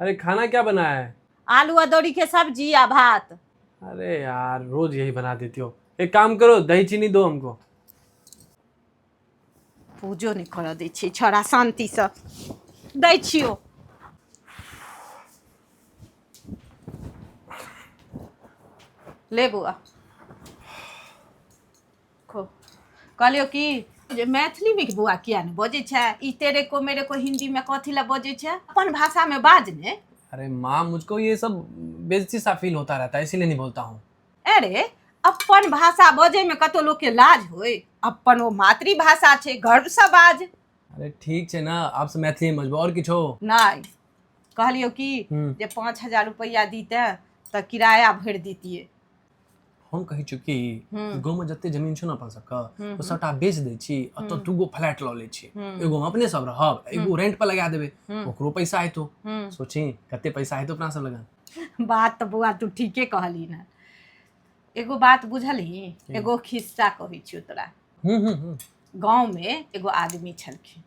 अरे खाना क्या बनाया है आलू अदौड़ी के सब्जी आ भात अरे यार रोज यही बना देती हो एक काम करो दही चीनी दो हमको पूजो नहीं कर दै छी छोड़ा शांति से दै छियो ले बुआ देखो कहलियो कि जे मैथिलीमे कि बौआ किया ने बजै छै ई तेरे को मेरे को हिन्दीमे कथी लए बजै छै अपन भाषामे बाज ने अरे माँ मुझको ये सब बेइज्जती सा फील होता रहता है इसीलिए नहीं बोलता हूँ अरे अपन भाषा बजैमे कतौ लोकके लाज होय अपन ओ मातृभाषा छै गर्वसँ बाज अरे ठीक छै ना आप से मैथिली में बजबो और किछो नहि कहलियो कि हम्म। जे पाँच हजार रुपैआ दीते तऽ किराया भरि दितियै हम कहै छी कि गाँवमे जते जमीन छै ने अपन सबके ओ सबटा बेच दै छी एतऽ दूगो फ्लैट लऽ लै छी एगो हम अपने सब रहब एगो रेंट पर लगा देबै ओकरो पैसा हेतौ सोची कते पैसा हेतौ अपना सब लगा बात तऽ बौआ तू ठीके कहली ने एगो बात बुझलही एगो खिस्सा कहै छियौ तोरा गाँवमे एगो आदमी छलखिन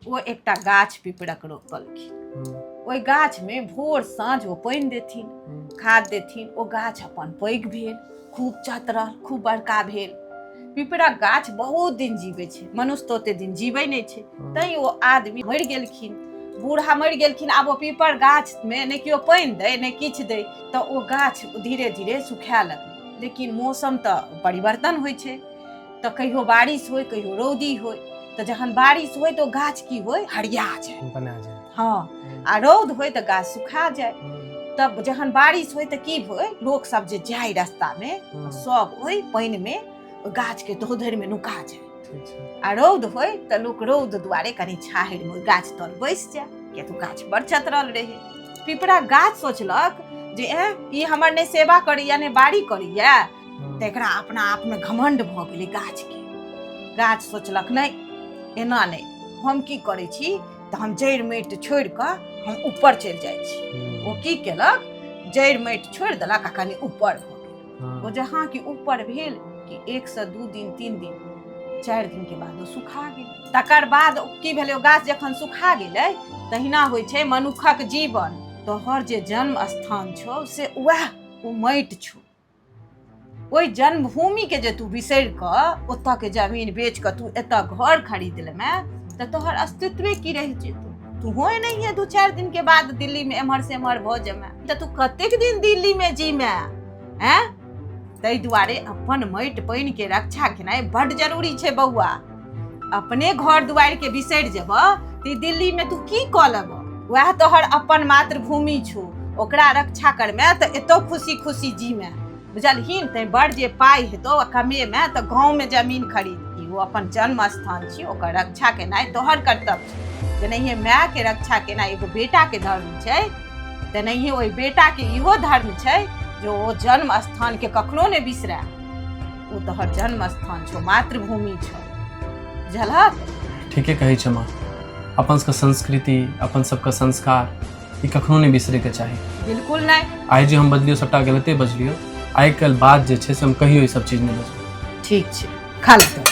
ओ एकटा गाछ पिपरक रोपलखिन हम्म, ओहि गाछमे भोर साँझ ओ पानि देथिन हम्म, खाद देथिन ओ गाछ अपन पैघ भेल खूब चतरल खूब बड़का भेल पिपरक गाछ बहुत दिन जीबै छै मनुष्य तऽ ओते दिन जीबै नहि छै हम्म। तैँ ओ आदमी मरि गेलखिन बूढ़ा मरि गेलखिन आब ओ पीपर गाछमे ने केओ पानि दै ने किछु दै तऽ ओ गाछ धीरे धीरे सुखाए लगलै लेकिन मौसम तऽ परिवर्तन होइ छै तऽ कहियो बारिश होय कहियो रौदी होय तऽ जहन बारिश होय तऽ ओ गाछ की होय हरिया जाय बना जाए हँ आ रौद होय तऽ गाछ सुखा जाय हम्म, तब जहन बारिश होय तऽ की होय लोक सब जे जाय रास्ता में हम्म, सब ओहि पानि में ओहि गाछ के धोधरि में नुका जाय ठीक छै आ रौद होय तऽ लोक रौद दुआरे कनी छाहरि में ओहि गाछ तर बैस जाय किया तऽ ओ गाछ बड़ चतरल रहे पिपरा गाछ सोचलक जे एँ ई हमर नहि सेवा करैया नहि बाड़ी करैया तऽ एकरा अपना आपमे घमंड भऽ गेलै गाछके गाछ सोचलक नहि एना नहि हम की करै छी तऽ हम जड़ि माटि छोड़ि कऽ हम ऊपर चलि जाइ छी ओ की केलक जड़ि माटि छोड़ि देलक आ कनि ऊपर भऽ गेल ओ जहाँ कि ऊपर भेल कि एक से दू दिन तीन दिन चारि दिन के बाद ओ सुखा गेल तकर बाद ओ की भेलै ओ गाछ जखन सुखा गेलै तहिना होइ छै मनुखक जीवन तोहर जे जन्म स्थान छौ से उएह ओ माटि छौ ओहि जन्मभूमि के जे तू बिसरि कऽ ओतऽ के जमीन बेच कऽ तू एतऽ घर खरीद लेमे तऽ तोहर अस्तित्वे की रहि जेतौ तूहो एनाहिए दू चारि दिन के बाद दिल्ली में एम्हर से एम्हर भऽ जेमे तऽ तू कतेक दिन दिल्ली में जीमे हैं ताहि दुआरे अपन माटि पानि के रक्षा केनाइ बड जरूरी छै बौआ अपने घर दुआरि के बिसरि जेब ते दिल्ली में तू की कऽ लेब वएह तोहर अपन मातृभूमि छौ ओकरा रक्षा करमे तऽ एतौ खुशी खुशी जीमे बुझलहीन तैं बड़ जे पाइ हेतौ आ कमेमे तऽ गाँवमे जमीन खरीद ओ अपन जन्म स्थान छी ओकर रक्षा केनाइ तोहर कर्तव्य छै जेनाहिए मायके रक्षा केनाइ एगो बेटाके धर्म छै तेनाहिए ओहि बेटाके इहो धर्म छै जे ओ जन्म स्थानके कखनो नहि बिसराय ओ तोहर जन्म स्थान छौ मातृभूमि छौ बुझलहक ठीके कहै छै माँ अपन सबके संस्कृति अपन सबके संस्कार ई कखनो नहि बिसरैके चाही बिल्कुल नहि आइ जे हम बजलियो सबटा गलते बजलियो आइ काल्हि बात जे छै से हम कहियो ई सब चीज नहि बजबै ठीक छै खा ले तू।